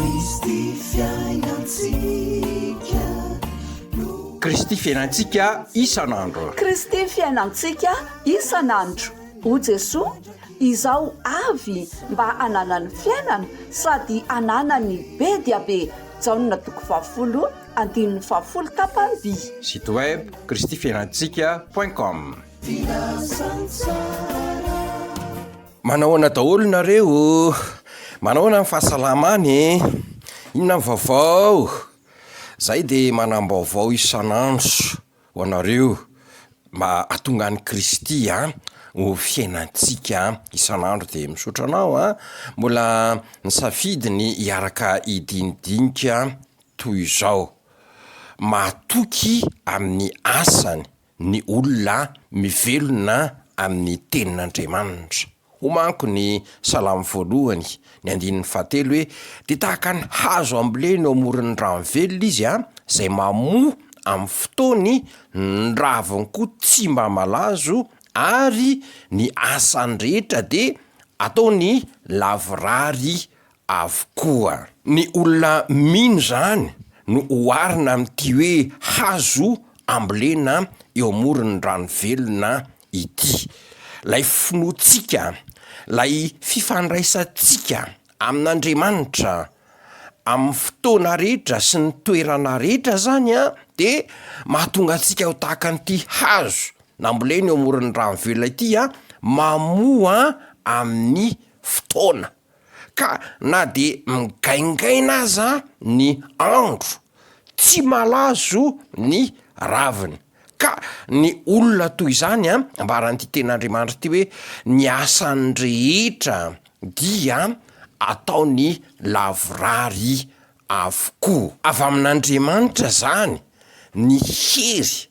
Kristy fiainantsika no. Kristy fiainantsika isan'andro. Kristy fiainantsika isan'andro. O Jesoa, izaho avy mba hananany fiainana sady hananany be dia be. Jaona toko fahafolo andininy fahafolo tapany-by. Site web, kristyfiainantsika point com. Filazantsara. Manahoana daholo nareo oh? Manahoana ny fahasalamana e? Inona ny vaovao? Zay de manam-baovao isan'andro ho anareo mba atonga an'i Kristy an ho fiainantsika an isan'andro de misaotra anao an mbola nisafidy ny hiaraka hidinidinika toy izao. Matoky amin'ny asany. ny olona mivelona amin'ny Tenin'Andriamanitra. Hoy manko ny Salamo voalohany, ny andininy fahatelo hoe, Dia tahaka ny hazo ambolena eo amoron'ny rano velona izy, izay mamoa amin'ny fotoany, ny raviny koa tsy mba malazo, ary ny asany rehetra dia ataony lavorary avokoa. Ny olona mino izany no oharina amin'ity hoe hazo ambolena eo amoron'ny rano velona ity. Ilay finoantsika, ilay fifandraisantsika amin'Andriamanitra amin'ny fotoana rehetra sy ny toerana rehetra izany dia mahatonga antsika ho tahaka an'ity hazo nambolena eo amoron'ny rano velona ity, mamoa amin'ny fotoana. Ka na dia migaingaina aza ny andro, tsy malazo ny raviny. Ka ny olona toy izany, ambaran'ity Tenin'Andriamanitra ity hoe, Ny asany rehetra dia ataony lavorary avokoa. Avy amin'Andriamanitra izany ny hery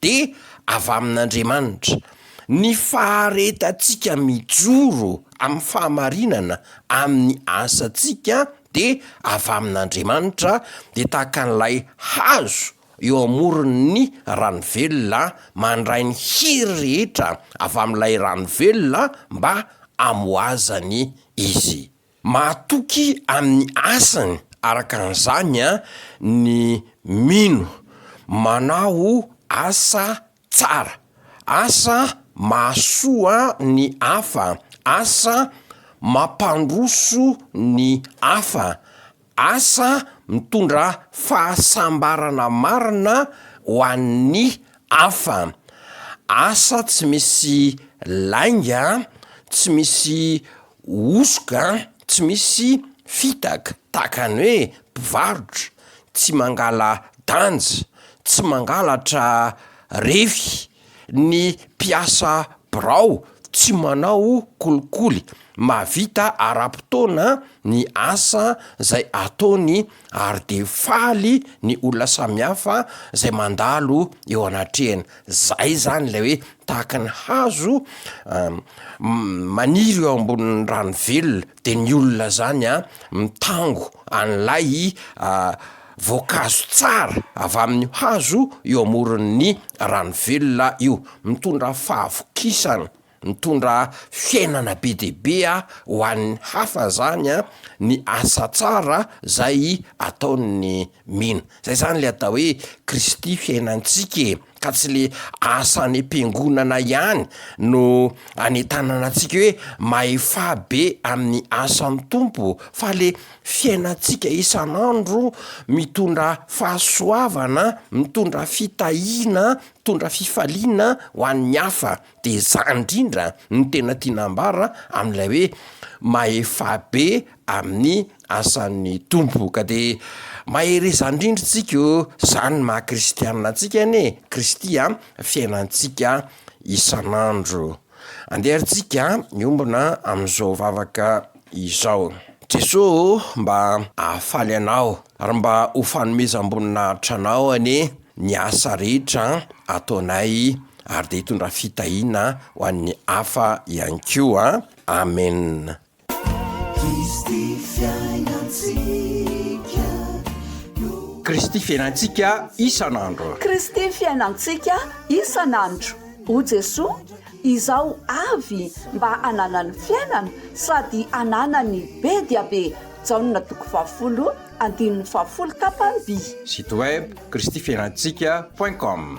dia avy amin'Andriamanitra. Ny faharetantsika mijoro amin'ny fahamarinana amin'ny asantsika dia avy amin'Andriamanitra, dia tahaka an'ilay hazo eo amoron'ny rano velona mandray ny hery rehetra avy amin'ilay rano velona mba hamoazany izy. Mahatoky amin'ny asany araka an'izany ny mino, manao asa tsara, asa mahasoa ny hafa, asa mampandroso ny hafa, Asa mitondra fahasambarana marina ho an'ny hafa. Asa tsy misy lainga, tsy misy hosoka, tsy misy fitaka, tahaka ny hoe mpivarotra, tsy mangala-danja, tsy mangalatra refy, Ny mpiasa birao tsy manao kolikoly, mahavita ara-potoana ny asa izay ataony ary dia faly ny olona samihafa izay mandalo eo anatrehany. Izay izany ilay hoe tahaka ny hazo maniry eo ambonin'ny rano velona, De ny olona zany a mitango an'ilay voankazo tsara avy amin'io hazo eo amoron'ny rano velona io, mitondra fahavokisana, mitondra fiainana be dia be ho an'ny hafa zany a ny asa tsara zay ataon'ny mino, zay zany le atao hoe Kristy fiainantsika e. ka tsy le asa any am-piangonana ihany no anentanana antsika hoe mahefa be amin'ny asan'ny Tompo fa le fiainantsika isan'andro mitondra fahasoavana, mitondra fitahiana, mitondra fifaliana ho an'ny hafa. De zany indrindra no tena tiana ambara amin'ilay hoe mahefabe amin'ny asan'ny Tompo ka, de mahereza indrindra tsika o, zany no maha kristiana antsika anie e, Kristy a fiainantsika isan'andro. Andeha ary tsika miombona amin'izao vavaka izao. Jesoa o mba hahafaly anao ary mba ho fanomezam-boninahitra anao anie. ny asa rehetra ataonay ary dia hitondra fitahiana ho an'ny hafa ihany koa Amen. Kristy fiainantsika no. Kristy fiainantsika isan'andro. Kristy fiainantsika isan'andro. O Jesoa, izaho avy mba hananany fiainana sady hananany be dia be Jaona toko fahafolo Andininy fahafolo tapany vii. Site web kristifiainantsika point com.